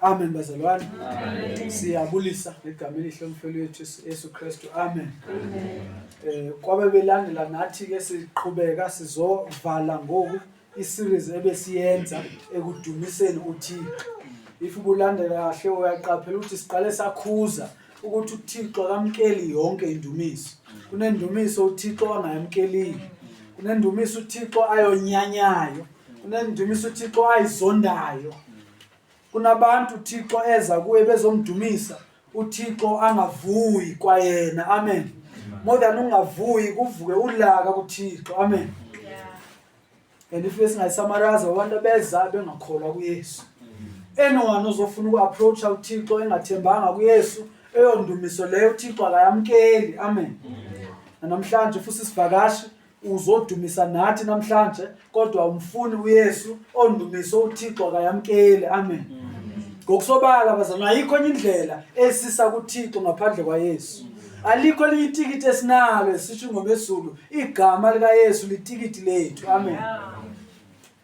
Amen bazalwane. Siyabulisa ngegama elihle umfelo wethu Yesu Kristu. Amen. Eh kwabe belandela nathi ke siqhubeka sizovala ngoku i-series ebesiyenza ekudumiseni uThixo. If ubulandela kahle uyaqaphela ukuthi siqale sakhuza ukuthi uThixo akamkeli yonke indumiso. Kunendumiso uThixo angayamkeliyo. Kunendumiso uThixo ayonyanyayo. Kunendumiso uThixo ayizondayo. kunabantu uthixo eza kuye bezomdumisa uthixo angavuyi kwayena amen more than ungavuyi kuvuke ulaka kuthixo amen and if esingayisamaraza abantu abeza bengakholwa kuyesu anyone ozofuna uku-approacha uthixo engathembanga kuyesu eyondumiso leyo uthixo akayamkeli amen namhlanje futhi isivakashi uzodumisa nathi namhlanje kodwa umfuni uYesu ondumiso uThixo akayamkeli amen ngokusobala bazana ayikho enye indlela esisa kuThixo ngaphandle kwaYesu alikho elinye itikiti esinalo esisho ingoma ezulu igama likaYesu litikiti lethu amen yeah.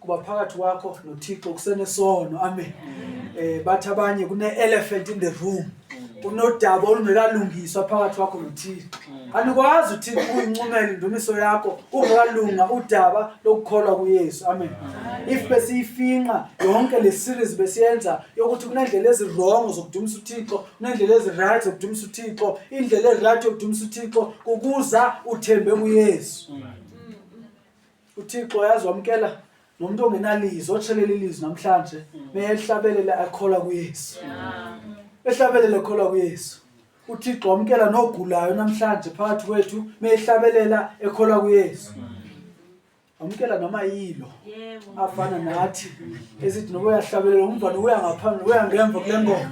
kuba phakathi kwakho nothixo kusenesono amen um bathi abanye kune-elephant in the room kunodaba olungekalungiswa phakathi kwakho nothixo anikwazi uthixo ukuyincumela indumiso yakho ungekalunga udaba lokukholwa kuyesu amen if besiyifinqa yonke le series besiyenza yokuthi kunendlela ezirongo zokudumisa uthixo kunendlela eziright zokudumisa uthixo indlela eright yokudumisa uthixo kukuza uthembe kuyesu uthixo yazi wamkela nomuntu ongenalizo otshelele ilizwi namhlanje meyehlabelela akholwa kuyesu ehlabelela akholwa kuyesu uthixo wamkela nogulayo namhlanje phakathi kwethu meyehlabelela ekholwa kuyesu wamkela noma yilo afana nathi esithi noba uyahlabelela umntwana uya ngaphambili uya ngemva kule ngoma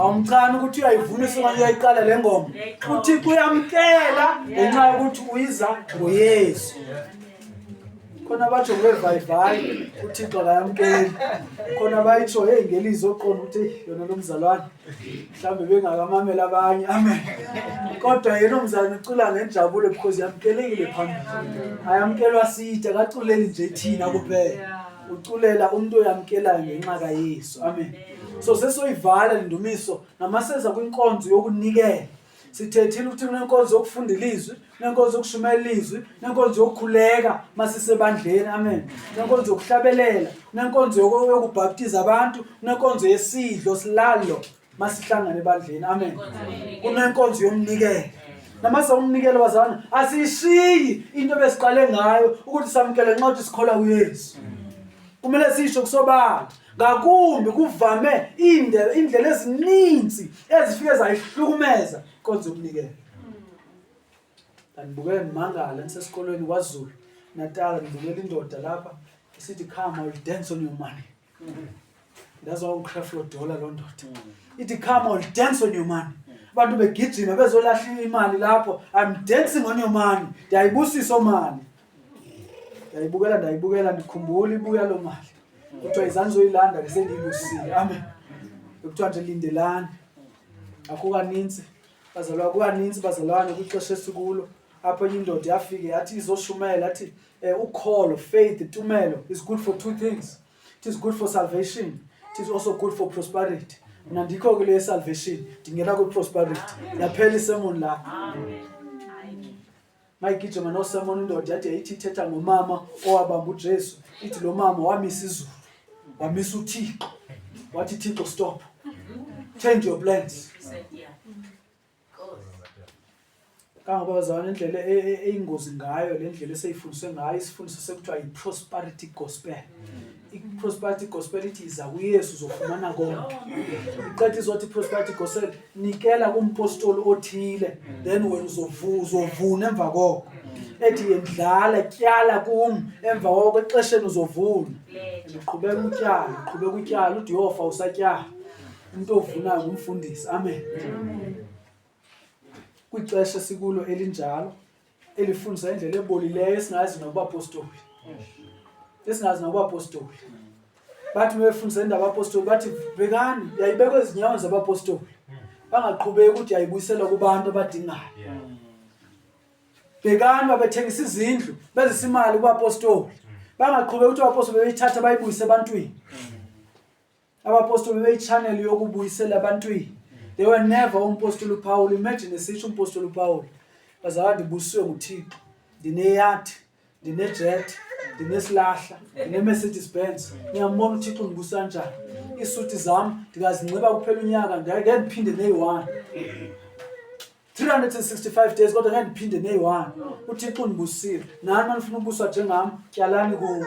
awumcani ukuthi uyayivuna isokanye uyayiqala le ngoma uthixo uyamkela ngenxa yokuthi uyiza ngoyesu khona batsho ngevayivayi uthixo akayamkeli khona bayitsho heyi ngelizi oqonda ukuthi yona lo mzalwane mhlawumbe bengakamamela abanye amen kodwa yena umzalwane ucula ngenjabulo because yamkelekile phambili ayamkelwa side akaculeli nje thina kuphela uculela umuntu oyamkelayo ngenxa kaYesu amen so sesoyivala le ndumiso namaseza kwinkonzo yokunikela sithethile ukuthi kunenkonzo yokufunda ilizwi nenkonzo yokushumayela ilizwi nenkonzo yokukhuleka masisebandleni amen nenkonzo yokuhlabelela nenkonzo yokubhaptiza abantu nenkonzo yesidlo silalo masihlangane ebandleni amen kunenkonzo yomnikelo namase umnikelo wazana asiyishiyi into besiqale ngayo ukuthi samkele nxa ukuthi sikholwa kuyesu kumele sisho kusobala ngakumbi kuvame indlela indlela ezininzi ezifike zayihlukumeza konze umnikelo ndibukele ndimangala nisesikolweni kwazulu natala ndibukela indoda lapha isithi come i will dance on your money That's why uCref lo dollar lo ndoda. Mm. Ithi come on dance on your money. Mm. Abantu begijima bezolahla imali lapho. I'm dancing on your money. Ndiyayibusisa omali. Ndiyayibukela ndiyayibukela ndikhumbula ibuya lo mali. Mm. Kuthiwa izanzo ilanda ke sendiyibusile. Amen. Kuthiwa nje lindelani. Akho kaninzi. Bazalwa kukaninzi bazalwane kwixesha esikulo. apho enye indoda yafike yathi izoshumayela athi um eh, ukholo faith tumelo is good for two things it is good for salvation it is also good for prosperity mna ndikho ke le salvation ndingena kwiprosperity yaphela isemon la mayigijima nosemon indoda yade yayithi ithetha ngomama owabamba ujesu ithi lo mama wamisa izulu wamisa uthixo wathi thixo stop change your plans kangoba bazalwane indlela e, e, eyingozi ngayo le ndlela eseyifundiswe ngayo isifundiso sekuthiwa yi-prosperity gospel mm. i-prosperity gospel ithi iza kuyesu uzofumana konke iqeda izothi i-prosperity gospel nikela kumpostoli othile mm. then wena uzovuna emva koko mm. ethi yendlala tyala kum emva koko exesheni uzovuna uqhubeka utyala uqhubeka utyala ude uyofa usatyala into ovunayo ngumfundisi amen kwixesha sikulo elinjalo elifundisa indlela ebolileyo esingazi nokubapostoli esingazi nokubapostoli bathi befundisa indaba abapostoli bathi bhekani yayibekwa ezinyawoni zabapostoli bangaqhubeki ukuthi yayibuyiselwa kubantu abadingayo bhekani babethengisa izindlu bezisa imali kubapostoli bangaqhubeki ukuthi abapostoli bebeyithatha bayibuyise ebantwini Abapostoli beyichannel yokubuyisela abantwini. They were never umpostoli uPaul. Imagine esisho umpostoli uPaul. Bazalwane ndibuswe nguThixo. Ndineyathi, ndinejet, ndinesilahla, ndineMercedes Benz. Ngiyambona uThixo ngibusa njani. Isuthi zami ndikazinxiba kuphela unyaka ngeke ndiphinde neyi-one. 365 days kodwa ngeke ndiphinde neyi-one. UThixo undibusile. Nani manifuna ukubuswa njengami, tyalani kuwo.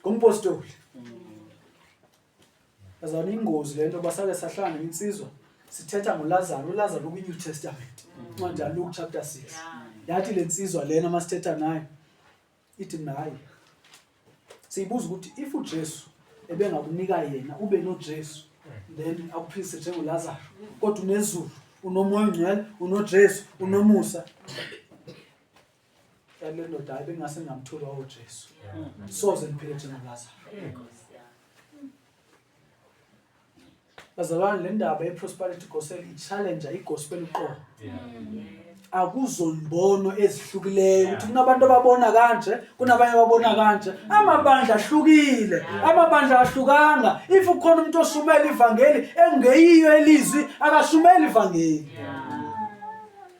Ngompostoli. Bazana ingozi lento basake sahlala neminsizwa sithetha ngoLazaro, uLazaro kwi New Testament. Incwadi yaLuke chapter 6. Yathi lensizwa lena masithetha nayo ithi nayi. Siyibuza ukuthi if uJesu ebengakunika yena ube noJesu then akuphilise njengoLazaro kodwa unezulu unomoya ongcwele unoJesu unomusa yaani le ndoda hayi bengingase ngingamtholi wawojesu soze ngiphile njengalazaro bazalwane le ndaba ye-prosperity gospel i-challenger i-gospel uqobo akuzonbono ezihlukileyyo ukuthi kunabantu ababona kanje kunabanye ababona kanje amabandla ahlukile amabandla ahlukanga if ukhona umuntu osumela ivangeli engeyiyo elizwi akasumela ivangeli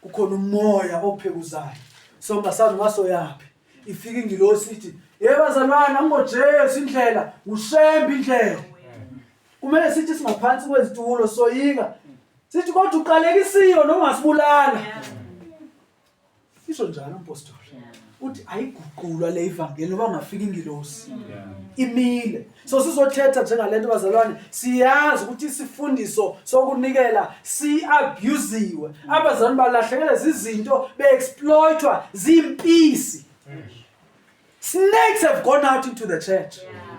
kukhona umoya ophekuzayo so ngasazi ngasoyaphi ifika ingilosi ithi hey bazalwana ngoJesu indlela ushembe indlela kumele sithi singaphansi kwezitulo soyika sithi kodwa uqalekisiwe noma ungasibulala isho njalo umpostoli uthi ayiguqulwa le ivangeli ngoba ngafika ingilosi imile so sizothetha njengalento bazalwane siyazi ukuthi isifundiso sokunikela siabusiwe abazalwane balahlekelwe zizinto beexploitwa zimpisi snakes have gone out into the church yeah.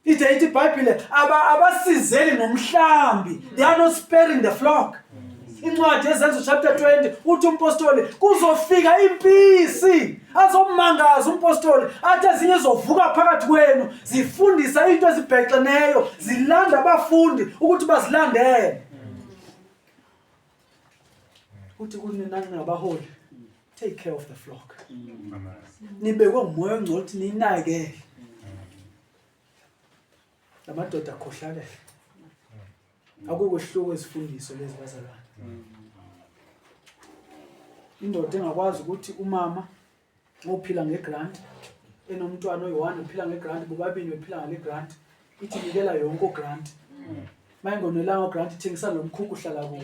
Ithe ithi iBhayibhile aba abasizeli ngomhlambi. They are not sparing the flock. Incwadi yezenzo chapter 20 uthi umpostoli kuzofika impisi azomangaza umpostoli athi ezinye zovuka phakathi kwenu zifundisa into ezibhexeneyo zilanda abafundi ukuthi bazilandele. Uthi kunina ningabaholi take care of the flock nibekwe ngumoya ongcono ukuthi ninakele la madoda akhohlakele akukohluko izifundiso lezi bazalwane indoda engakwazi ukuthi umama ophila ngegrant enomntwana oyi-one uphila ngegrant bobabili bephila ngale grant ithi nikela yonke ogrant mayingonelanga ogrant ithengisa lo mkhukhu uhlala kuwo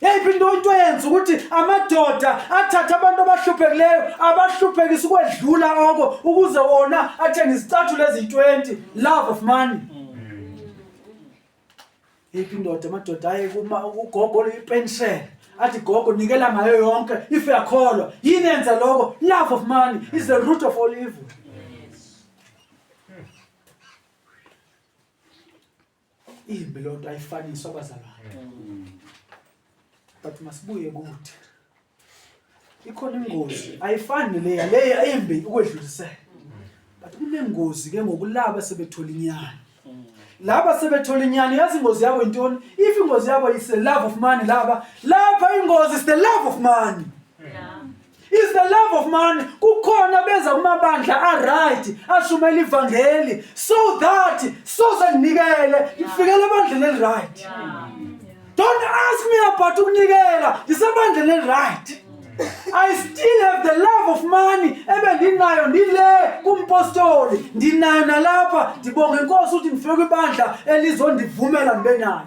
Yeyiphi into into eyenza ukuthi amadoda athathe abantu abahluphekileyo abahluphekisa ukwedlula oko ukuze wona athenge izicathulo eziyi-20 love of money yeyiphi indoda amadoda aye ugogo oluyipenshele athi gogo nikela ngayo yonke if yakholwa yini yenza loko love of money is the root of all evil imbi loo nto ayifaniswa abazalwane mm. but masibuye kuthi ikhona ingozi ayifani leya leya imbi ukwedlulisela but kunengozi ke ngokulaba sebethola inyani mm. laba sebethola inyani yazi ingozi yabo intoni if ingozi yabo is the love of money laba lapha ingozi is the love of money is the love of money kukhona beza kumabandla aright ashumela ivangeli so that soze nginikele ngifikele ebandleni eliright don't ask me about ukunikela ngisebandleni eliright I still have the love of money ebe ndinayo ndile kumpostoli ndinayo nalapha ndibonga inkosi ukuthi ndifike kwibandla elizondivumela ndibe nayo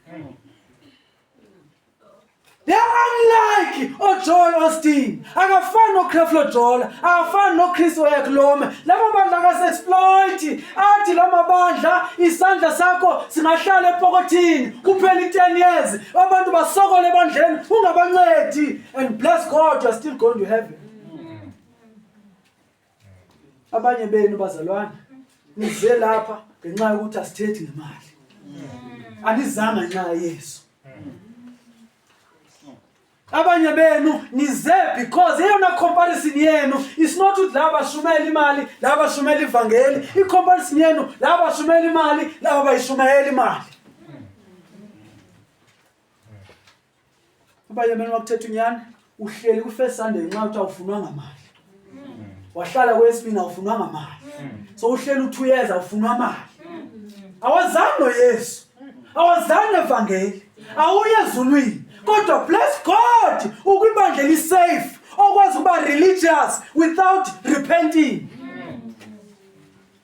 They are unlike oJoel oh, Austin. Akafani noCreflo Jola, akafani noChris Oyakhuluma. Laba bandla akasexploit. Athi lama bandla isandla sakho singahlala epokothini kuphela i-10 years. Abantu basokole ebandleni ungabancedi and bless God you are still going to heaven. abanye benu bazalwane nize lapha ngenxa yokuthi asithethi ngemali anizanga nxa yesu abanye benu nize because eyona comparison yenu is not ukuthi laba bashumela imali laba bashumela ivangeli i-comparison yenu laba bashumela imali laba bayishumayela imali Uba yemeni wakuthetha unyana uhleli ku first Sunday nxa uthi awufunwanga mali. Wahlala kwesibini awufunwanga mali. So uhleli u 2 years awufunwa mali. Awazange Yesu. Awazange evangeli. Awuye ezulwini. Kodwa bless God ukwibandla li safe okwazi ukuba religious without repenting.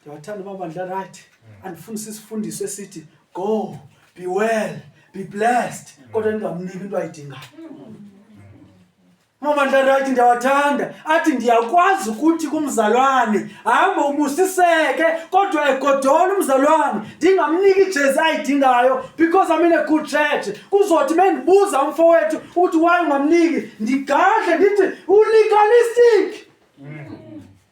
ndiyawathanda amabandla right mm. andifuni sisifundiso esithi go be well be blessed mm. kodwa ndingamniki into ayidingayo amabandla right ndiyawathanda athi ndiyakwazi ukuthi kumzalwane hambe ubusiseke kodwa egodole umzalwane ndingamniki ijezi ayidingayo because amine good church kuzothi mendibuza umfowethu ukuthi waye ungamniki ndigadle ndithi ulegalistic mm.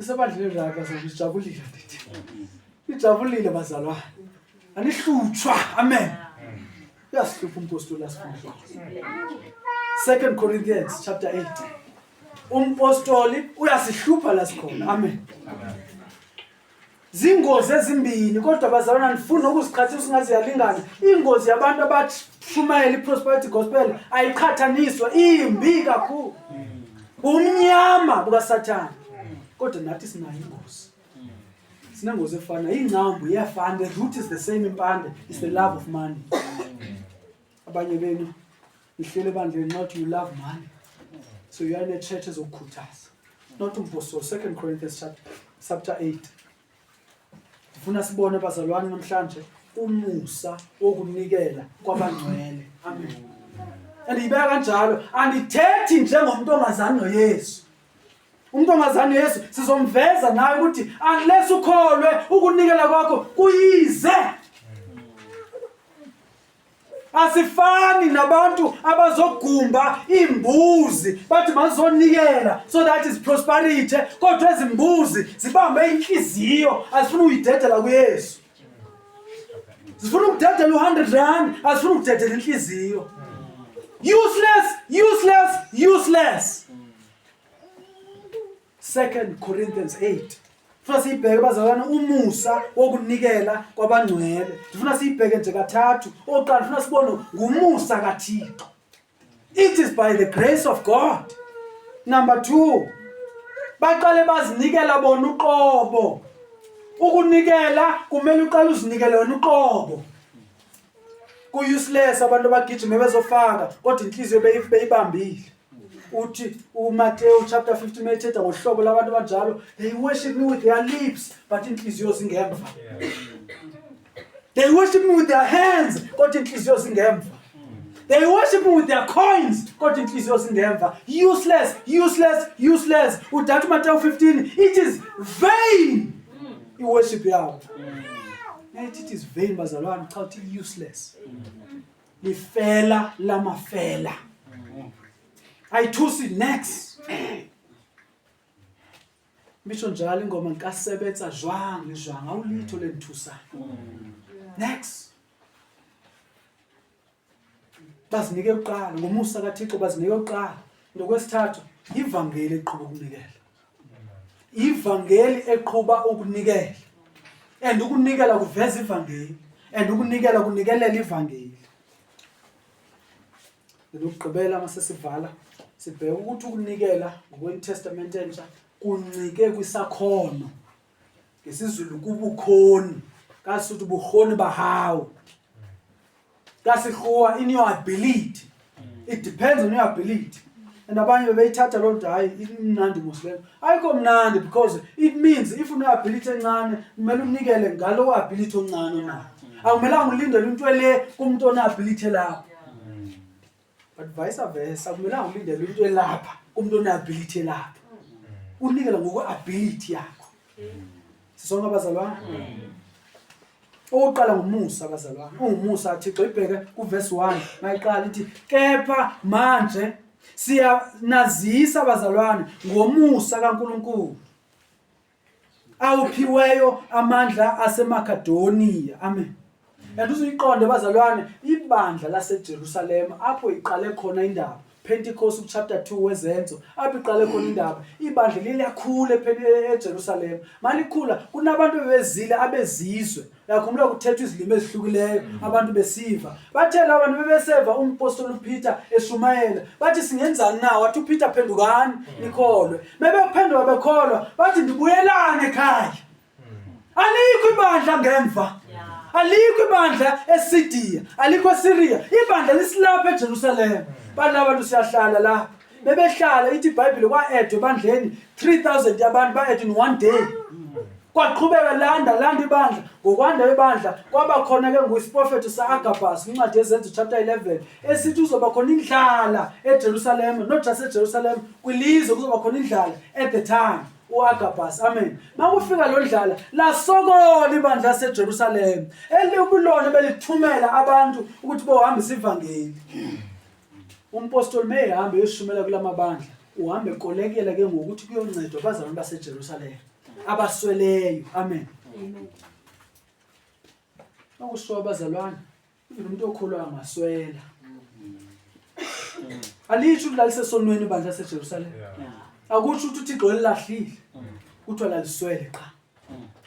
isebandleni raka sokujabulile ndithi ijabulile bazalwane anihlutshwa amen uyasihlupha umpostoli asifundile second corinthians chapter 8 umpostoli uyasihlupha la sikhona amen, amen. Zingozi ezimbili kodwa bazalwana nifuna ukuziqhatha usingaze yalingana. Ingozi yabantu abashumayela iprosperity gospel ayiqhathaniswa imbi kakhulu. Umnyama bukaSathane. Kodwa nathi sinayo ingozi. Sinengozi efana ingcambu iyafana the root is the same impande is the love of money. Abanye benu Ngihlele bandleni not you love money. So you are in a church ezokukhuthaza. Not umposo 2 Corinthians chapter 8. Ngifuna sibone bazalwane namhlanje umusa wokunikela kwabangcwele. Amen. Andiyibeka kanjalo, andithethi njengomuntu ongazani noYesu. Umuntu ongazani noYesu sizomveza naye ukuthi unless ukholwe ukunikela kwakho kuyize asifani nabantu abazogumba iimbuzi bathi mazizonikela so that is prosperity kodwa ezimbuzi zibambe inhliziyo azifuna uyidedela kuyesu zifuna ukudedela u-hundred rand azifuna ukudedela inhliziyo useless useless useless 2 Corinthians 8 funa siyibheke bazalwane umusa wokunikela kwabangcwele ndifuna siyibheke nje kathathu oqala funa sibone ngumusa kathixo it is by the grace of god number 2 baqale bazinikela bona uqobo ukunikela kumele uqale uzinikele wena uqobo ku-useless abantu abagijime bezofaka kodwa inhliziyo beyibambile uthi uMateyu chapter 15 methetha ngohlobo labantu abanjalo they worship me with their lips but inhliziyo zingemva they worship me with their hands kodwa inhliziyo zingemva they worship me with their coins kodwa inhliziyo zingemva useless useless useless udata uMateyu 15 it is vain iworship yawo it is vain bazalwane cha uthi useless lifela lamafela ayithusi next misho njalo ingoma ngikasebetsa jwang ngijwang awulitho lenthusayo next bazinike kuqala ngomusa kaThixo bazinike kuqala nokwesithathu ivangeli eqhuba ukunikela ivangeli eqhuba ukunikela and ukunikela kuveza ivangeli and ukunikela kunikelela ivangeli lokugqibela uma sesivala sibheke ukuthi ukunikela ngokweNew Testament entsha kuncike kwisakhono ngesizulu kubukhoni kasuthu bukhoni bahawu kasikhuwa in your ability it depends on your ability and abanye bebeyithatha loo nto hayi imnandi musleyo ayikho mnandi because it means if uneability encane kumele unikele ngalowo ability oncane onayo akumelanga ulindele into ele kumntu oneability elapho but vice versa akumelanga ulindele umuntu elapha umuntu one-ability elapha unikela ngokwe-ability yakho sisonke abazalwana owokuqala ngumusa abazalwane ungumusa thixo ibheke kuvesi 1 mayiqala ithi kepha manje siyanazisa abazalwane ngomusa kankulunkulu awuphiweyo amandla asemakedoniya amen and uzuyiqonde bazalwane ibandla lasejerusalema apho iqale khona indaba Pentecost chapter 2 wezenzo apho iqale khona indaba ibandla liyakhula eJerusalem malikhula kunabantu bebezile abezizwe Yakhumbula kuthethwa izilimi ezihlukileyo mm. abantu besiva. Bathe laba bantu bebeseva umpostoli uPeter eshumayela. Bathi singenzani na? Wathi uPeter phendukani mm. nikholwe. Bebephenduka bekholwa bathi ndibuyelane ekhaya. Mm. Alikho ibandla ngemva. Alikho ibandla eSidiya, alikho eSiriya. Ibandla lisilapha eJerusalem. Balaba bantu siyahlala lapha. bebehlala ithi ibhayibhile kwa-edwa ebandleni 3000 yabantu ba-edwa in one day kwaqhubeka landa landa ibandla ngokwanda kwebandla kwaba khona ke ngoyisiprofethi sa-agabhas kwincwadi yezenzo chapter 11 esithi uzoba khona indlala ejerusalema not just ejerusalema kwilizwe kuzoba khona indlala at the time uagabhas amen makufika lo ndlala lasokola ibandla lasejerusalema elikulona belithumela abantu ukuthi bohambisa ivangeli Umpostoli meyehamba eyoshumayela kulamabandla uhamba ekolekela ke ngokuthi kuyoncedwa abazalwane baseJerusalema abasweleyo amen akushiwo abazalwane even umuntu okholwa angaswela alisho ukuthi lalisesonweni ibandla laseJerusalema akusho ukuthi uThixo elilahlile kuthiwa laliswele qha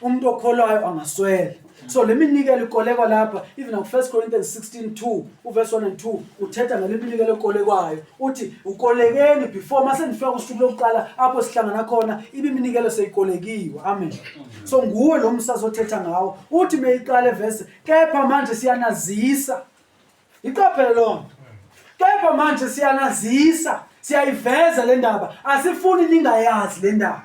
umuntu okholwayo angaswela so le minikelo ikolekwa lapha even on 1 corinthians 16 2 uverse 1 and 2 uthetha ngale minikelo ekolekwayo uthi ukolekeni before mase nifika kusuku lokuqala apho sihlangana khona ibiminikelo seyikolekiwe amen so nguwe lo msazi othetha ngawo uthi meyiqala evese kepha manje siyanazisa Iqaphele lonto. Kepha manje siyanazisa, siyayiveza le ndaba. Asifuni ningayazi le ndaba.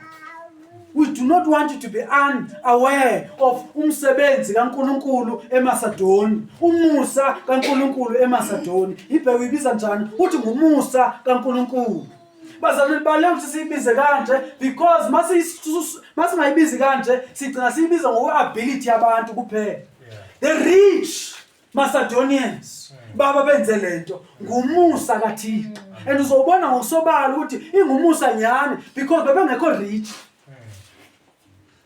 We do not want you to be unaware of umsebenzi kaNkuluNkulu eMasadoni. Umusa kaNkuluNkulu eMasadoni. Ibheke uyibiza njani? Uthi ngumusa kaNkuluNkulu. Bazalwane bale ukuthi siyibize kanje because masingayibizi kanje sigcina siyibiza ngokwe-ability yabantu kuphela. The rich Macedonians baba benze lento ngumusa kaThixo and uzobona ngosobala ukuthi ingumusa nyani because bebengekho rich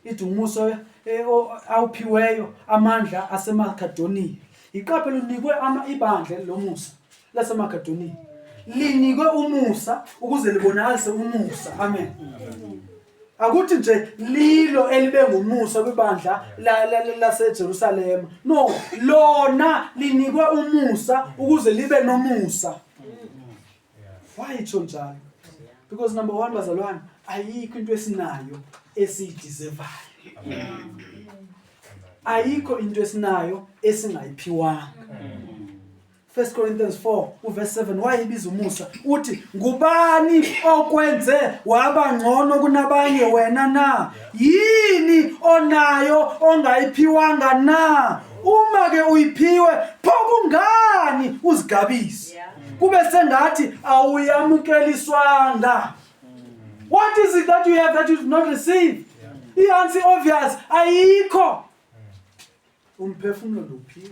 ithi umusa eh, awuphiweyo amandla aseMakedoniya iqaphe lunikwe ama ibandla lomusa laseMakedoniya linikwe umusa ukuze libonakalise umusa amen akuthi nje lilo elibe ngumusa kwibandla laseJerusalema no lona linikwe umusa ukuze libe nomusa why itsho njalo because number one bazalwane ayikho into esinayo esiyidizevayo ayikho into esinayo esingayiphiwanga 1 Corinthians 4 uverse 7 wayibiza umusa uthi ngubani okwenze waba ngcono kunabanye wena na yini onayo ongayiphiwanga na uma ke uyiphiwe pho kungani uzigabise kube sengathi awuyamukeliswanga what is it that you have that you did not receive ihansi obvious ayikho umphefumulo luphiwe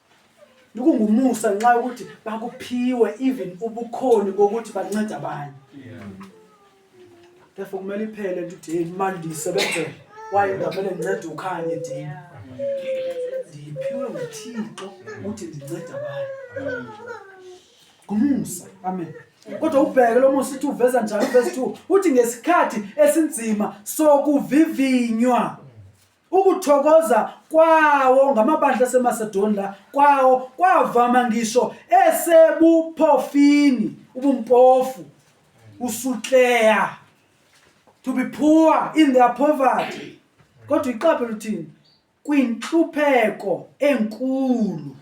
Lokungumusa nxa ukuthi bakuphiwe even ubukhoni bokuthi bancede abanye. Therefore kumele iphele ukuthi hey manje ndisebenze waye ngamele ngincede ukhanye dini. Ndiphiwe nguThixo ukuthi ndincede abanye. Ngumusa. Amen. Kodwa ubheke lo musa uthi uveza njalo verse 2 uthi ngesikhathi esinzima sokuvivinywa Ukuthokoza kwawo ngamabandla aseMasedoniya kwawo kwavama ngisho esebuphofini, ubumpofu, usukleya, to be poor in their poverty. Kodwa iqaphe luthini? Kwinhlupheko enkulu.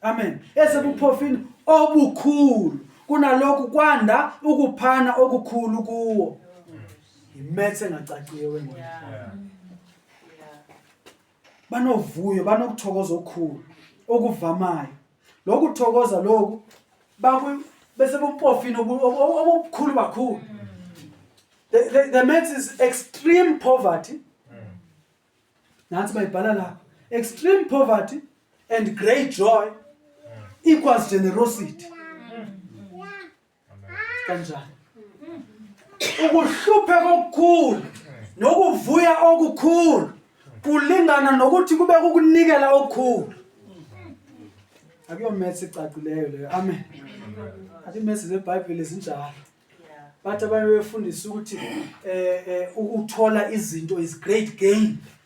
Amen. Esebuphofini obukhulu kunalokhu kwanda ukuphana okukhulu kuwo. yimethe engacaciye wengane Yeah. banovuyo banokuthokoza okukhulu okuvamayo lokhu kuthokoza lokhu baku- bese bupofini obu- obu- obu- obukhulu kakhulu the, the, the maths is extreme poverty nansi bayibhala lapha extreme poverty and great joy equals generosity kanjani ukuhlupheka okukhulu nokuvuya okukhulu kulingana nokuthi kube kukunikela okukhulu akuyomesi icacileyo leyo amen athi imesi zebhayibheli zinjalo bathi abanye befundisa ukuthi um um ukuthola izinto is great gain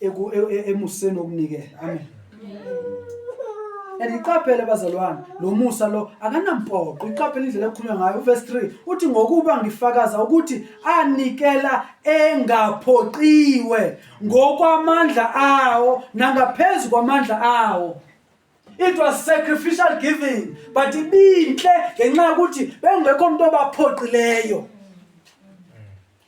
emuseni okunikela amen and iqaphele bazalwane lo musa lo akanampoqo iqaphele indlela ekhulunywa ngayo uverse 3 uthi ngokuba ngifakaza ukuthi anikela engaphoqiwe ngokwamandla awo nangaphezu kwamandla awo it was sacrificial giving but ibinhle ngenxa yokuthi bengekho umuntu obaphoqileyo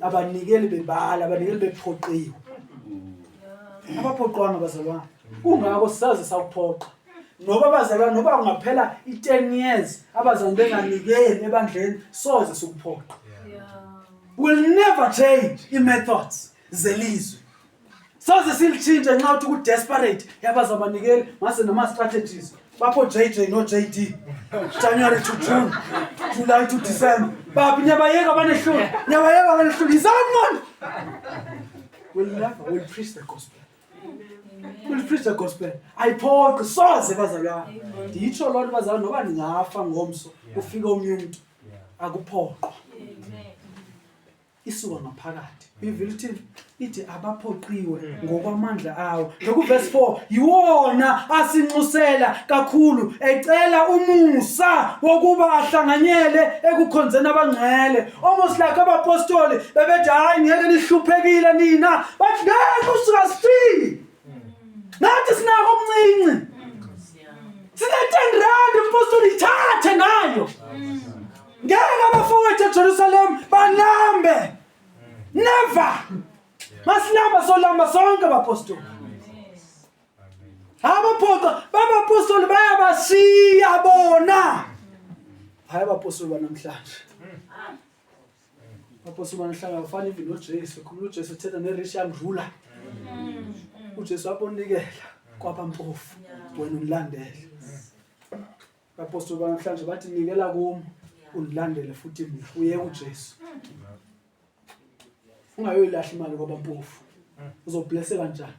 abanikeli bebala abanikeli bephoqiwe abaphoqwanga bazalwane kungako saze sakuphoqa noba abazalwane noba kungaphela i-10 years abazali benganikeli ebandleni soze sikuphoqa will never change i-methods zelizwe Soze silitshintshe nxa uthi ku desperate yabaza abanikeli ngase nama strategies bapho JJ no JD January to June July to December baphi nyabayeka abanehlulu nyabayeka abanehlulu yizani manje will never will preach the gospel will preach the gospel ayiphoqi soze bazalwana ndiyitsho loo nto bazalwana noba ndingafa ngomso ufike omnye umntu akuphoqwa isuka ngaphakathi ivile ukuthi ithi abaphoqiwe ngokwamandla awo nokuvesi 4 yiwona asinxusela kakhulu ecela umusa wokuba ahlanganyele ekukhonzeni abangcwele almost like abapostoli bebethi hayi ngeke nihluphekile nina bathi ngeke usuka sifile nathi sinako okuncinci sine-ten rand umphostoli ithathe ngayo ngeke abafowethu ejerusalem balambe never masilamba solamba sonke bapostoli abaphoqa babapostoli bayabashiya bona hayi abapostoli banamhlanje Purpose uma nihlala ufana even noJesu, khuluma uJesu uthetha ne-rich young ruler. UJesu wabonikela kwaba mpofu, wena unilandele. Apostoli banamhlanje bathi nikela kum unilandele futhi mina uye uJesu. Ungayoyilahla imali kwaba mpofu. uzoblesseka njani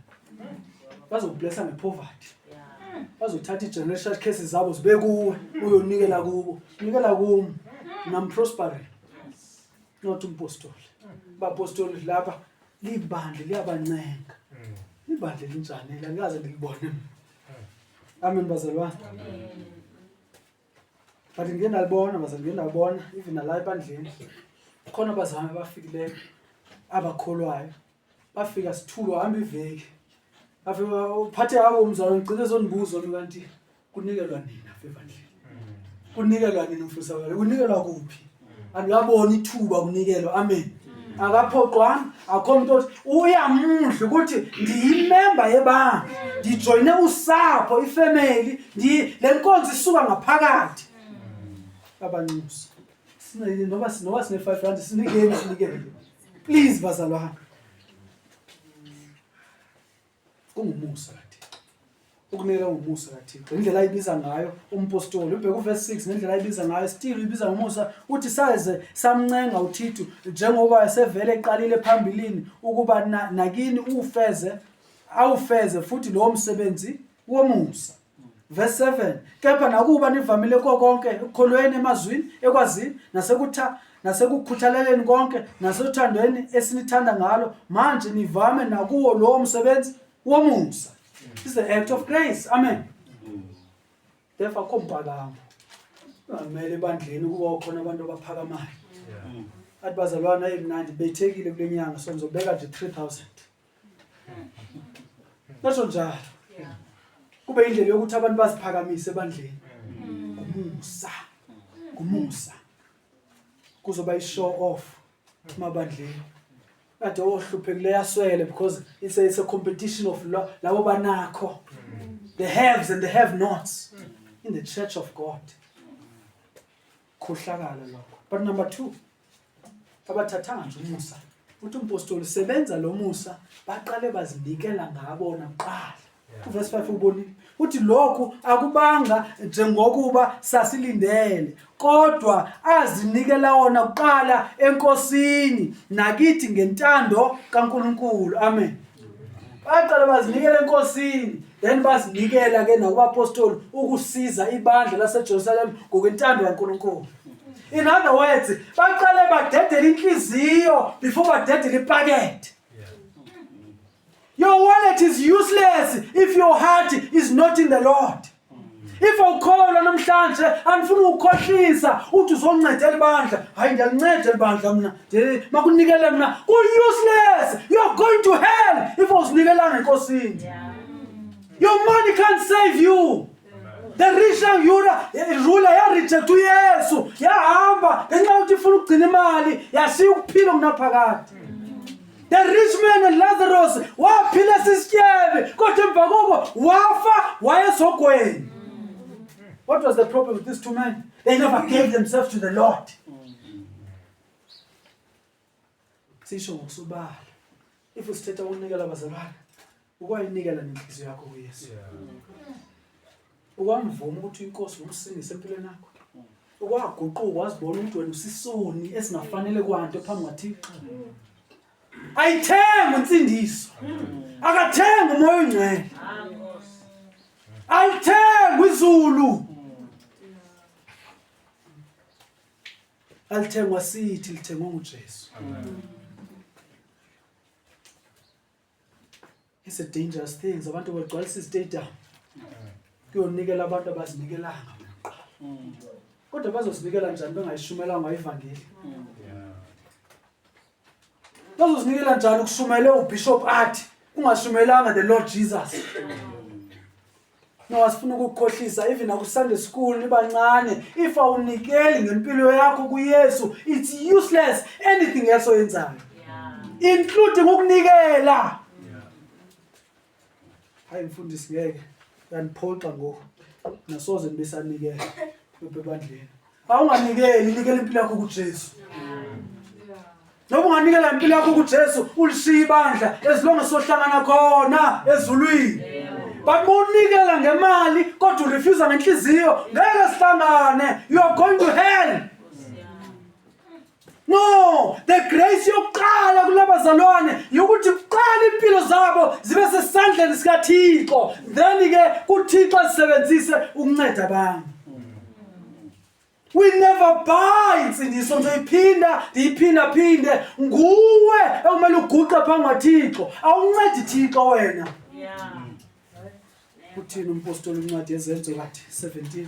bazokublessa ngepoverty bazothatha i-generation case zabo zibe kuwe uyonikela kubo nikela kum namprospering not umpostoli bapostoli lapha libandla liyabancenga ibandla elinjani la ngikaze ndilibone amen bazalwane but ngiye ndalibona baze ngiye ndabona even nala ebandleni khona abazame abafikileyo abakholwayo bafika sithulwa hamba iveki afika uphathe awo umzalo ngicela ezonibuzo kanti kunikelwa nini afevandleni kunikelwa nini mfusakale kunikelwa kuphi aluyabona ithuba kunikelwa amen akaphoqwanga akho muntu othi uyamudla ukuthi ndiyimemba yebandla ndijoyine usapho ifamily le nkonzo isuka ngaphakathi abanxusi noba noba sine-five rand sinikeni sinikele please bazalwane Kungumusa kaThixo. Ukunikela kungumusa kaThixo. Indlela ayibiza ngayo umpostoli ubheka uverse 6 nendlela ayibiza ngayo still uyibiza ngomusa uthi saze samncenga uThithu njengoba esevele eqalile phambilini ukuba nakini ufeze awufeze futhi lowo msebenzi womusa. Verse 7 kepha nakuba nivamile kukho konke ekukholweni emazwini ekwazini nasekutha nasekukhuthaleleni konke nasothandweni esinithanda ngalo manje nivame nakuwo lowo msebenzi womusa is the act of grace amen therefore akho mpakamo ngamele ebandleni ukuba ukhona abantu abaphakamayo athi bazalwana emnandi bethekile kule nyanga so ngizobeka nje 3000 Nasho njalo. Kube indlela yokuthi abantu baziphakamise ebandleni. Ngumusa. Ngumusa. Kuzoba i show off emabandleni. Kade ohluphekile yaswele because it's a, it's a competition of lo- labo banakho. The haves and the have nots in the church of God. khohlakala lokho but number two abathathanga nje umusa uthi umpostoli sebenza lo musa baqale bazinikela ngabona kuqala uvesi 5 ubonile uthi lokhu akubanga njengokuba sasilindele kodwa azinikela wona kuqala enkosini nakithi ngentando kaNkuluNkulu amen baqale bazinikela enkosini then bazinikela ke nakubapostoli ukusiza ibandla laseJerusalem ngokwentando kaNkulunkulu in other words baqale badedele inhliziyo before badedele ipakethe your wallet is useless if your heart is not in the lord if awukholwa namhlanje andifuni ukukhohlisa uthi uzonceda elibandla hayi ndiyalinceda elibandla mna makunikele mna ku-useless you're going to hell if awuzinikelanga enkosini your money can't save you the richang yura rula yareject uyesu yahamba ngenxa yokuthi ifuna ukugcina imali yashiya ukuphila okunaphakade The rich man and Lazarus waphila sisityebe kodwa emva koko wafa wayesogweni. What was the problem with these two men? They never gave themselves to the Lord. Sisho ngokusubala. If usithetha ukunikela abazalwane ukwayinikela nenhliziyo yakho kuyesu ukwamvuma ukuthi inkosi ngumsindise empilweni yakho ukwaguquka wazibona ukuthi wena usisoni esingafanele kwanto phambi kwathixo ayithenga insindiso akathenga umoya ongcwele alithengwa izulu alithengwa sithi lithengwe nguJesu It's a dangerous thing. Abantu bagcwalisa izitadium. Kuyonikela abantu abazinikelanga kuqala. Kodwa bazozinikela njani bengayishumelanga ivangeli? Bazozinikela njani ukushumayela ubishop athi ungashumayelanga the Lord Jesus? No asifuna ukukhohlisa even aku Sunday school nibancane if awunikeli ngempilo yakho kuYesu it's useless anything else oyenzayo including ukunikela hayi mfundisi ngeke yaniphoxa ngoku nasoze nibesanikela bebandleni Awunganikeli, nikela impilo yakho kuJesu. Noma unganikela impilo yakho kuJesu, ulishiya ibandla ezilonge sohlangana khona ezulwini. But unikela ngemali kodwa urefusa ngenhliziyo, ngeke sihlangane. You are going to hell. No, the grace yokuqala kulabazalwane yokuthi kuqala impilo zabo zibe sesandleni sikaThixo. Then ke kuThixo asebenzise ukunceda abanye. We never buy insindiso ngizoyiphinda ndiyiphinda phinde nguwe ekumele uguqe phambi kwaThixo. Awuncedi Thixo wena. Yeah. Uthini umpostoli incwadi yezenzo kathi 17?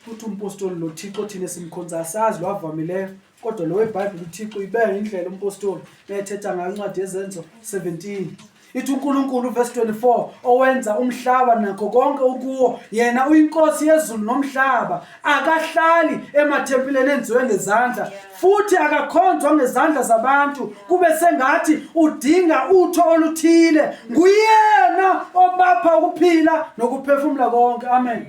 futhi umpostoli lo Thixo thina simkhonza asazi lo avamileyo kodwa lo weBhayibheli uThixo uyibeka indlela umpostoli ethetha ngayo incwadi yezenzo 17 ithi uNkulunkulu verse 24 owenza umhlaba nakho konke ukuwo yena uyinkosi yezulu nomhlaba akahlali emathempileni enziwe ngezandla futhi akakhonzwa ngezandla zabantu kube sengathi udinga utho oluthile nguyena obapha ukuphila nokuphefumula konke amen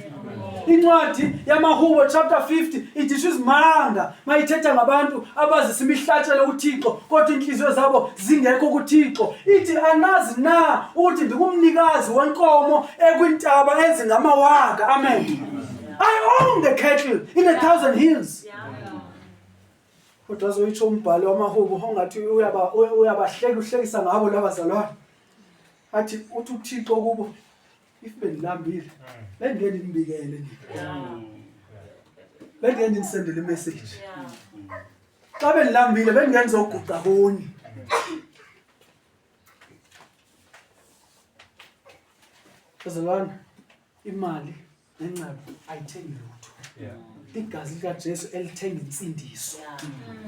incwadi yamahubo chapter 50 idisho izimanga mayithetha ngabantu abazisa imihlatshelo kuthixo kodwa inhliziyo zabo zingekho kuthixo ithi anazi na ukuthi ndikumnikazi wenkomo ekwintaba ezingamawaka amen, amen. I own the cattle in a thousand hills. Kodwa azoyitsho umbhali wamahubo ongathi uyaba uyabahleka uhlekisa ngabo laba zalwane. Athi uthi uThixo kubo if bendilambile mm. bengeke ndimbikele nina. Bengeke ndinisendele message. Xa bendilambile bengeke ndizoguqa kuni. Bazalwane imali nenxeba ayithengi lutho igazi likajesu elithenga insindiso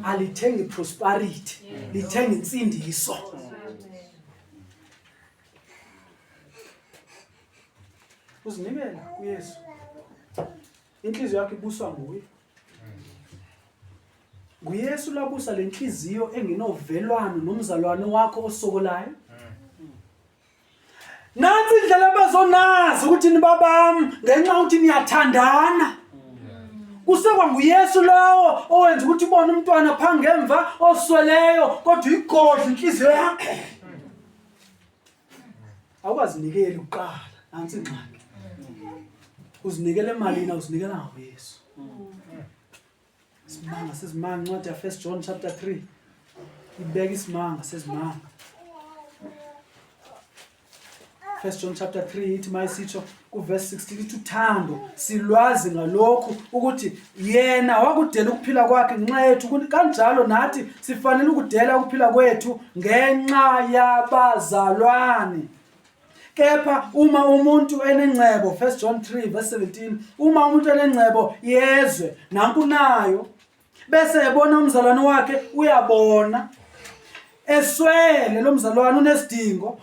alithengi prosperity lithenga insindiso uzinikela kuyesu inhliziyo yakho ibuswa nguye nguyesu labusa le nhliziyo engenovelwano nomzalwane wakho osokolayo Nansi indlela abazonazi ukuthi nibabami ngenxa ukuthi niyathandana. Kusekwa nguYesu lowo owenza ukuthi ubone umntwana phambi ngemva osweleyo kodwa igodla inhliziyo yakhe. Awukazinikeli uqala nansi ingxaki. Uzinikele emalini awuzinikela ngoYesu. Isimanga sezimanga incwadi ya First John chapter 3 ibeka isimanga sezimanga. First John chapter 3 ithi mayisitsho kuverse 16 ithi uthando silwazi ngalokhu ukuthi yena wakudela ukuphila kwakhe ngenxa yethu kanjalo nathi sifanele ukudela ukuphila kwethu ngenxa yabazalwane. Kepha uma umuntu enengcebo 1 John 3 verse 17 uma umuntu enengcebo yezwe nanku nayo bese ebona umzalwane wakhe uyabona eswele lo mzalwane unesidingo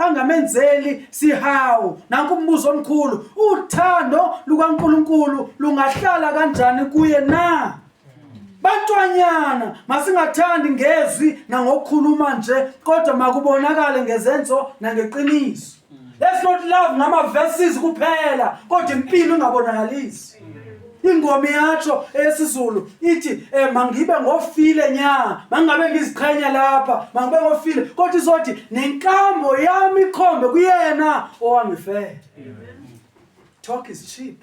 angamenzeli sihawu nanku umbuzo omkhulu uthando lukaNkuluNkulu lungahlala kanjani kuye na Bantwanyana, masingathandi ngezwi nangokukhuluma nje, kodwa makubonakale ngezenzo nangeqiniso. Let's not love ngama verses kuphela, kodwa impilo ingabonakalisi. Ingoma yacho esiZulu ithi eh mangibe ngofile nya, mangabe ngiziqhenya lapha, mangibe ngofile, kodwa izothi nenkambo yami ikhombe kuyena owangifela. Talk is cheap.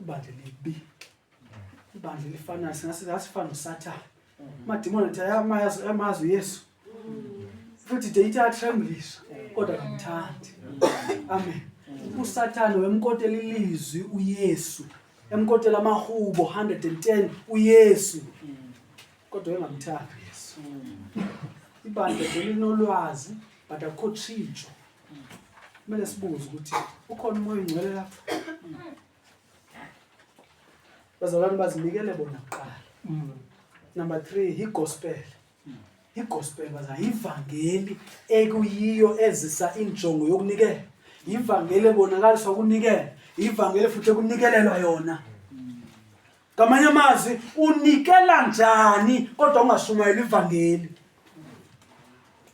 ibandla elibi ibandla elifanayo singasifana nosathane amadimoni athi ayamazi uyesu futhi de ithi atremblisa kodwa kamthandi amen usathane wemkotela ilizwi uyesu emkotela amahubo 110 uyesu kodwa engamthandi uyesu ibandla belinolwazi but akukho tshintsho kumele sibuze ukuthi ukhona umoya ongcwele lapho bazalwane bazinikele bona kuqala mm. number three yigospel mm. igospel baza yivangeli ekuyiyo ezisa injongo yokunikela yivangeli ebonakaliswa ukunikela yivangeli futhi ekunikelelwa yona mm. ngamanye amazwi unikela njani kodwa ungashumayeli ivangeli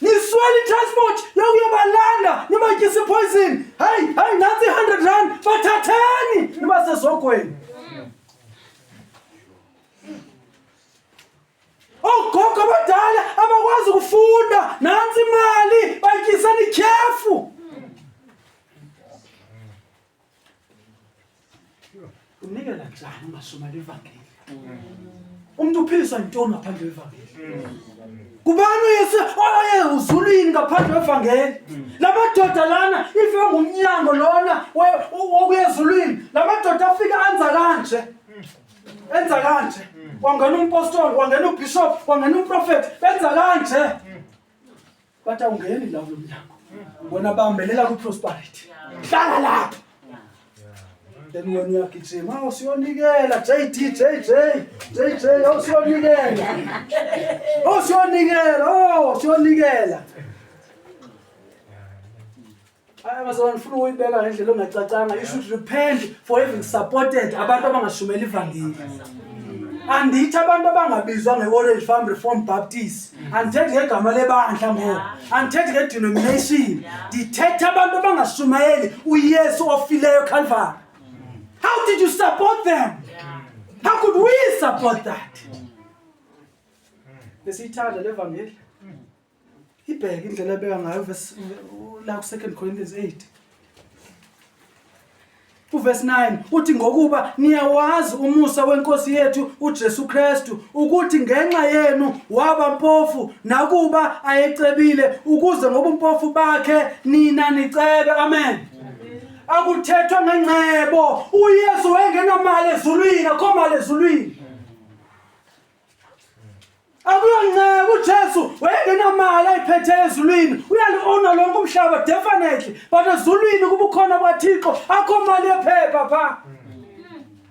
niswele i-transport yokuyobalanda nibatyisa ipoison hayi hayi nantsi i-hundred rand bathatheni nibasezogweni ogogo abadala abakwazi ukufunda nantsi imali batyiseni ityhefu unikela njani umasuma levangeli umuntu uphiliswa ntoni ngaphandle kwevangeli kubani uyese oye uzulwini ngaphandle kwevangeli la madoda lana ife ngumnyango lona wokuyezulwini la madoda afike anza kanje enza kanje wangena umpostoli wangena ubishop wangena umprofethi benza kanje But awungeni la kulo mnyango. Bona bambelela ku prosperity. Hlala lapho. Then wena uyagijima awusiyonikela JD JJ JJ awusiyonikela. Awusiyonikela, oh siyonikela. Hayi bazalwane ngifuna ukuyibeka ngendlela ongacacanga. You should repent for having supported abantu abangashumeli ivangeli. Andithi abantu abangabizwa nge-Orange Farm Reform Baptist. Andithethi ngegama lebandla ngoba. Andithethi nge-denomination. Ndithetha abantu abangashumayeli uYesu ofileyo Calvary. How did you support them? How could we support that? Besiyithanda levangeli. ibheke indlela ebeka ngayo verse la ku 2 Corinthians 8 uverse 9 uthi ngokuba niyawazi umusa wenkosi yethu uJesu Kristu ukuthi ngenxa yenu waba mpofu nakuba ayecebile ukuze ngobumpofu bakhe nina nicebe amen akuthethwa ngengcebo uYesu wayengenamali ezulwini akho mali ezulwini akuyoncenga uJesu wayengenamali ayiphethe ezulwini uyaliona lonke umhlaba definitely but ezulwini kubukhona kwaThixo akho mali yephepha pha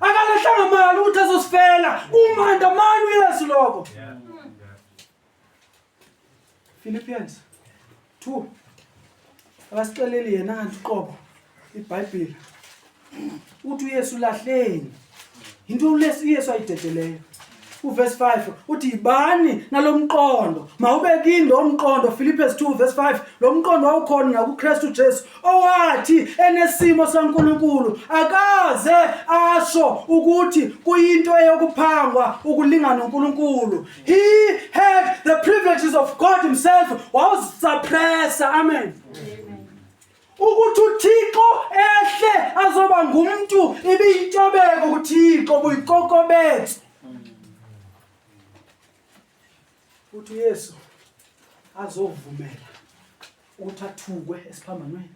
akalehlanga mali ukuthi azosifela umanda mani uyesu lokho yeah. Philippians 2 akasixeleli yena kanti uqobo ibhayibhile uthi uyesu lahleni yinto ulesu uyesu ayidedeleyo uverse 5 uthi yibani nalo mqondo mawubekini lo mqondo philippes 2 verse 5 lo mqondo wawukhona nakukristu jesu owathi enesimo sankulunkulu akaze asho ukuthi kuyinto eyokuphangwa ukulingana nonkulunkulu He had the privileges of God himself wawuzisuppressa amen ukuthi uThixo ehle azoba ngumuntu ibiyintobeko kuThixo buyikokobethe uthi uYesu azovumela ukuthi athukwe esiphambanweni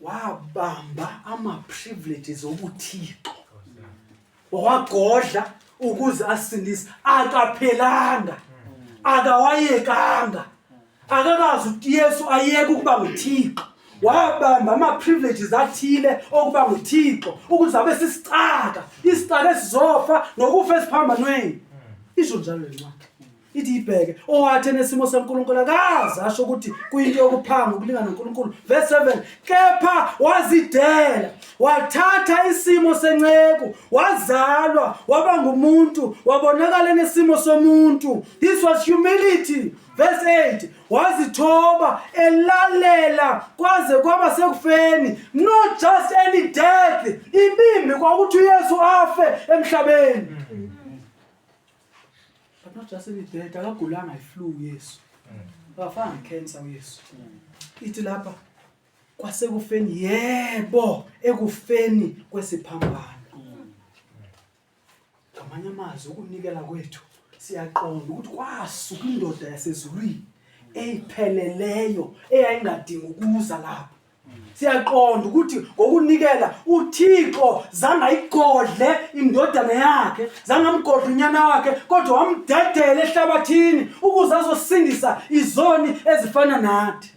wabamba ama-privileges obuthixo wawagodla ukuze asindise akaphelanga akawayekanga akakazi ukuthi yesu ayeke ukuba nguthixo wabamba ama-privileges athile okuba nguthixo ukuze abe sisicaka isicaka esizofa nokufa esiphambanweni isho njalo lencwadi ithi ibheke owathi enesimo senkulunkulu akazi asho ukuthi kuyinto yokuphanga ukulingana nonkulunkulu verse 7 kepha wazidela wathatha isimo senceku wazalwa waba ngumuntu wabonakala enesimo somuntu this was humility verse 8 wazithoba elalela kwaze kwaba sekufeni not just any death ibimbi kwakuthi uyesu afe emhlabeni mm -hmm. but not just any dead akagulanga iflu yesu akafanga cancer uyesu ithi lapha kwasekufeni yebo ekufeni kwesiphambano ngamanye amazwi ukunikela kwethu siyaqonda ukuthi kwasuka indoda yasezulwini eyipheleleyo eyayingadingi ukuza lapha siyaqonda ukuthi ngokunikela uthixo zangayigodle indodana yakhe zangamgodla unyana wakhe kodwa wamdedela ehlabathini ukuze azosindisa izoni ezifana nathi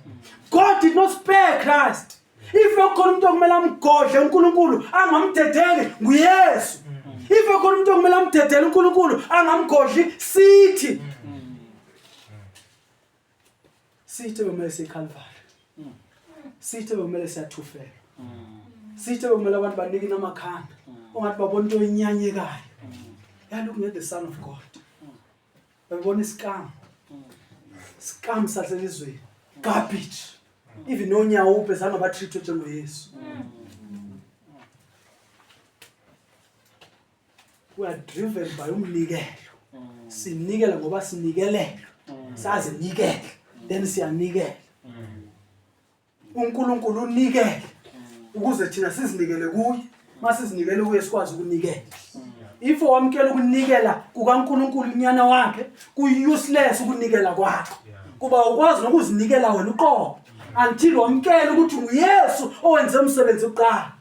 god did not spare christ if ekhona umuntu okumele amgodle unkulunkulu angamdedeli nguyesu if ekhona umuntu okumele amdedele unkulunkulu angamgodli sithi Sithe bekumele sikhalivale. Mm. Sithe bekumele siyathufela. Mm. Sithe bekumele abantu banike namakhanda. Mm. Ongathi babona into enyanyekayo. Yaye look at the son of God. Babona isikam. Sikam saselizweni. Garbage. Even nonyawo uphe zange batreatwe njengoYesu. we are driven by umnikelo sinikela ngoba sinikelela sazinikela then siyanikela uNkulunkulu unikela ukuze thina sizinikele kuye masizinikele kuye sikwazi ukunikela if wamkela ukunikela kukaNkulunkulu inyana wakhe kuuseless ukunikela kwakho kuba ukwazi nokuzinikela wena uqobo until wamkela ukuthi uYesu owenze umsebenzi uqala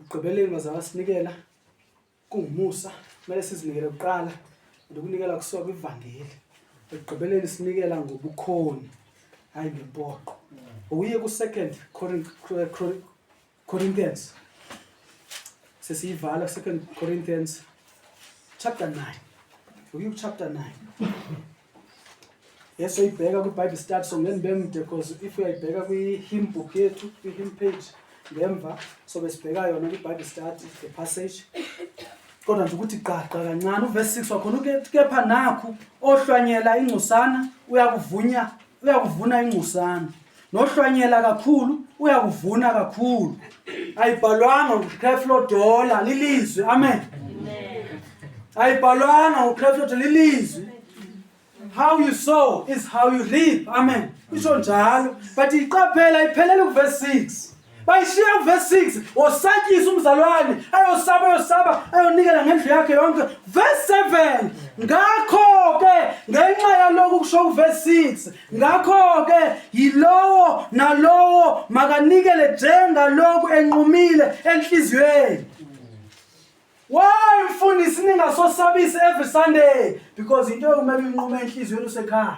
Ekugqibeleni bazali basinikela kungumusa kumele sizinikele kuqala and ukunikela kusuka kwivangeli ekugqibeleni sinikela ngobukhoni hhayi ngempoqo uye ku-second corinthians sesiyivala second corinthians chapter 9 uye kuchapter 9 Yes, uyibheka kwi-Bible study so ngeke ngibe mude because if uyayibheka kwi-hymn book yethu, kwi-hymn page ngemva so besibheka yona kwi-Bible study the passage. Kodwa nje ukuthi gqagqa kancane uverse 6 wakhona uke- kepha nakhu ohlwanyela ingcosana uyakuvunya uyakuvuna ingcosana. nohlwanyela kakhulu uyakuvuna kakhulu ayibhalwanga ukreflo dola lilizwi amen ayibhalwanga ukreflo dola lilizwi how you sow is how you reap amen isho njalo but iqaphela iphelele kuvesi 6 bayishiya kuvesi 6 wosatshisa umzalwane ayosaba ayosaba ayonikela ngendlu yakhe yonke vesi 7 ngakho-ke ngenxa yalokhu kusho kuvesi 6 ngakho-ke yilowo nalowo makanikele njengalokhu enqumile enhliziyweni Why mfundisi ningasosabisi every Sunday because into ekumele inqume enhliziyweni usekhaya.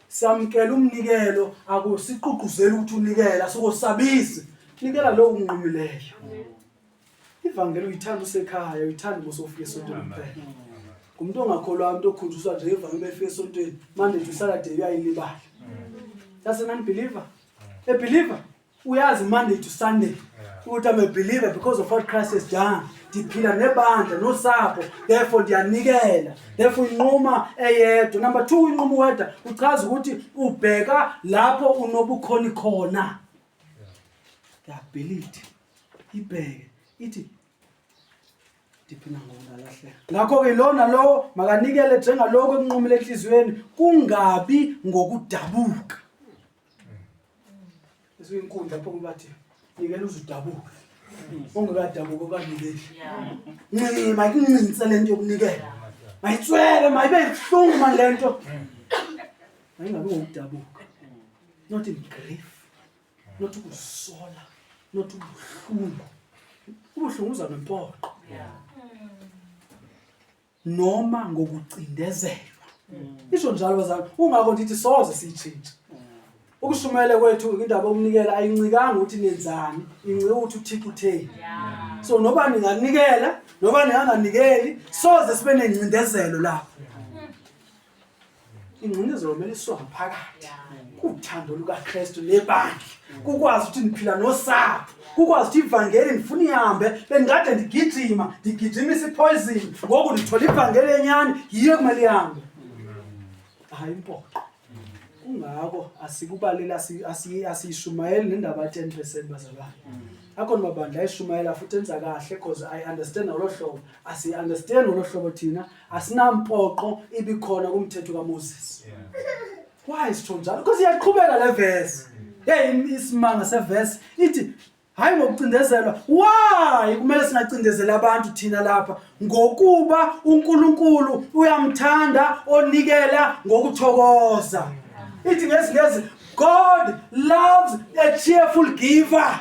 Samkela umnikelo akusiqugquzeli ukuthi unikela sokosabisi. Nikela lowo unqumileyo. Ivangeli uyithanda usekhaya, uyithanda ukuthi ufike esontweni kuphela. Ngumuntu ongakholwa umuntu okhunjuswa nje ivangeli befike esontweni, manje uthi usalade uyayilibala. Does a man believer? A believer uyazi Monday to Sunday ukuthi I'm a believer because of what Christ has done ndiphila nebandla nosapho therefore ndiyanikela therefore inquma eyedwa number two inquma uwedwa uchaza ukuthi ubheka lapho unobukhoni khona the ability ibheke ithi ndiphina ngokungalahleka ngakho-ke lona lowo makanikele njengalokho ekunqumile enhliziyweni kungabi ngokudabuka Isinkundla pho bathi ngikela uzudabuka. Ungekadabuka obanikeli. Ncinci mayikuncinise lento yokunikela. Mayitswele mayibe ibuhlungu manje lento. Mayingabe ngokudabuka. Not in grief. Not ukusola. Not ubuhlungu. Ubuhlungu uza nempoqo. noma ngokucindezelwa isho njalo bazalwane kungakho ndithi soze siyitshintshe ukushumayela kwethu indaba yokunikela ayincikanga ukuthi nenzani incike ukuthi uthixo utheni so noba ninganikela noba ninganganikeli soze sibe nengcindezelo lapho ingcinezelo kumele isuka ngaphakathi kuthando lukaKristu lebandla kukwazi ukuthi niphila nosapho kukwazi ukuthi ivangeli ndifuna ihambe bendikade ndigijima ndigijimisa ipoison ngoku ndithola ivangeli enyani yiyo kumele ihambe hayi impoqo kungako asikubaleli asiyishumayeli nendaba ya-ten percent bazalwane akhona mabandla ayishumayela futhi enza kahle because i understand ngolo hlobo asiyi-understand ngolo hlobo thina asinampoqo ibikhona kumthetho kaMoses why sitho njalo because iyaqhubeka le verse hey isimanga severse ithi hayi ngokucindezelwa why kumele singacindezeli abantu thina lapha ngokuba uNkulunkulu uyamthanda onikela ngokuthokoza ithi ngesingezi God loves a cheerful giver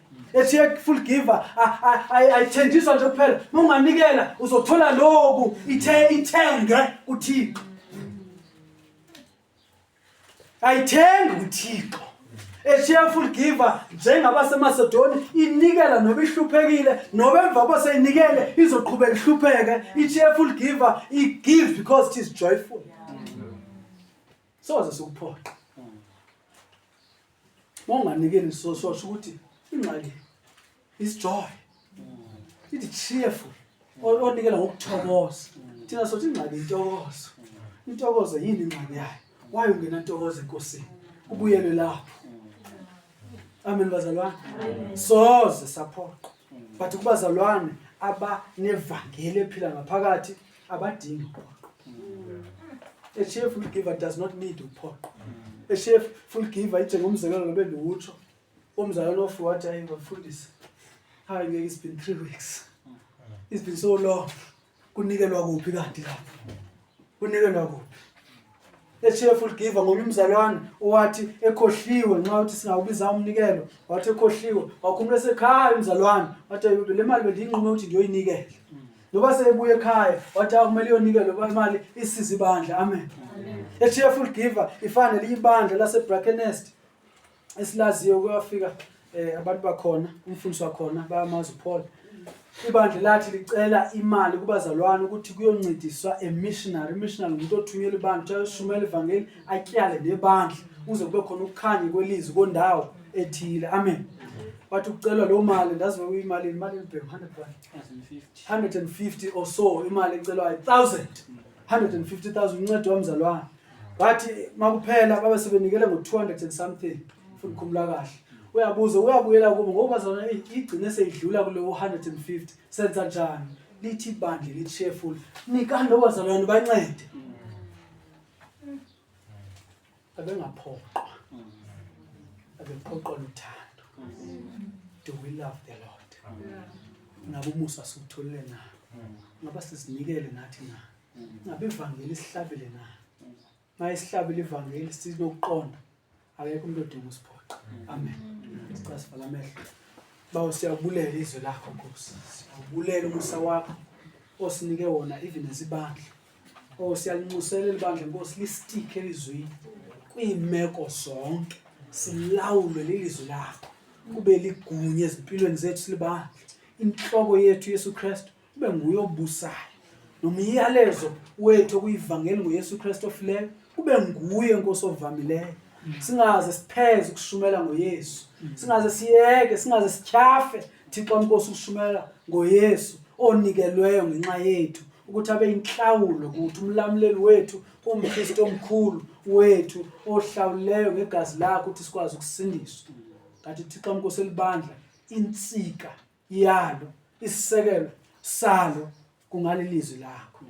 ethi full giver ayithenjiswa nje kuphela munganikela uzothola lokhu ithe ithenge uThixo ayithengi uThixo eshiya full giver njengabaseMacedonia inikela noba ihluphekile noba emva koseyinikele izoqhubeka ihlupheke i-cheerful giver i-give because it is joyful soze sikuphoqa monganikeli so so ukuthi ingxaki is joy ithi cheerful onikela ngokuthokoza thina sothi ingxaki intokozo intokozo yini ingxaki yayo why ungena ntokozo enkosini ubuyele lapho amen bazalwane soze saphoqa but kubazalwane abanevangeli ephila ngaphakathi abadingi uphoqo a cheerful giver does not need uphoqo a cheerful giver njengomzekelo nobe ndiwutsho umzalwane ofi wathi ayi bafundisi hayi ngeke it's been three weeks it's been so long kunikelwa kuphi kanti lapho kunikelwa kuphi The cheerful giver ngomunye umzalwane owathi ekhohliwe nxa uthi singawubiza umnikelo wathi ekhohliwe wakhumula esekhaya umzalwane wathi "Ayudo, le mali bendiyinqume ukuthi ndiyoyinikela noba seyebuya ekhaya wathi akumele iyonikelwe kuba imali isiza ibandla amen a cheerful giver ifana nelinye ibandla lasebrakenest esilaziyo kuyafika eh abantu bakhona umfundisi wakhona bayamazi uPaul ibandla lathi licela imali kubazalwane ukuthi kuyoncediswa a missionary missionary umuntu othunyelwe ibandla ushumela ivangeli atyale nebandla uze kube khona ukukhanya kwelizwi kondawo ethile amen wathi ukucelwa loo mali ndazi uyimali imali elibheke 100 150 or so imali ecelwayo 1000 150,000 uncedo wamzalwane bathi makuphela babe sebenikele ngo-200 and something futhi khumula kahle uyabuza uyabuyela kubo ngoba bazona igcine seyidlula kule 150 senza njani lithi ibandla lithi cheerful nikani obazalwane bancede abengaphoqwa abephoqwa luthando do we love the lord nabo umusa siwutholile na ngaba sizinikele nathi na ngabe ivangeli isihlabile na ma isihlabile ivangeli sinokuqonda akekho umuntu odinga usiphoqa amen sicela sivala amehlo bawo siyakubulela izwe lakho nkosi siyakubulela umusa wakho osinike wona even ezibandla o oh, siyalinxusela elibandla nkosi lisitike elizwini kwiimeko zonke silawulwe lilizwi lakho kube ligunya ezimpilweni zethu silibandla inhloko yethu yesu kristu kube nguye obusayo nomyalezo wethu okuyivangeli ngoYesu Kristu ofileyo kube nguye inkosi ovamileyo singaze sipheze ukushumayela ngoYesu singaze siyeke singaze sityhafe Thixo inkosi ukushumayela ngoYesu onikelweyo ngenxa yethu ukuthi abe inhlawulo ukuthi umlamuleli wethu umKristu omkhulu wethu ohlawuleyo ngegazi lakhe ukuthi sikwazi ukusindiswa kanti Thixo inkosi elibandla insika yalo isisekelo salo kungalilizwi lakho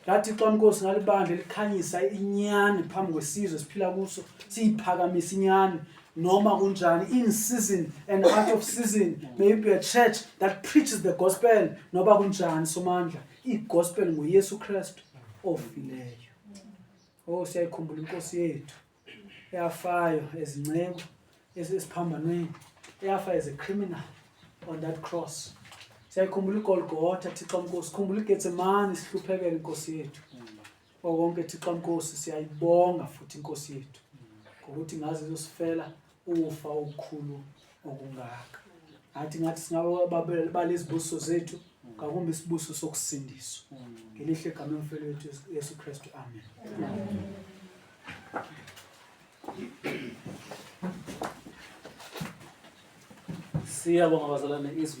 lathixo mnkosi ngalibandla elikhanyisa inyani phambi kwesizwe siphila kuso siyiphakamisa inyani noma kunjani in season and out of season may you be a church that preaches the gospel noba kunjani somandla igospel nguyesu kristu ofileyo o oh, siyayikhumbula inkosi yethu eyafayo as inceku esiphambanweni eyafa as a criminal on that cross siyayikhumbula igolgotha thixo mkosi khumbula igetsemane sihluphekele inkosi yethu okonke thixo mkosi siyayibonga futhi inkosi yethu ngokuthi ngaze izosifela ukufa okukhulu okungaka ngathi ngathi singabalesibuso zethu ngakumbe isibuso sokusindiswa ngelihle gama emfelo wethu yesu kristu amen siyabonga bazalwane izwi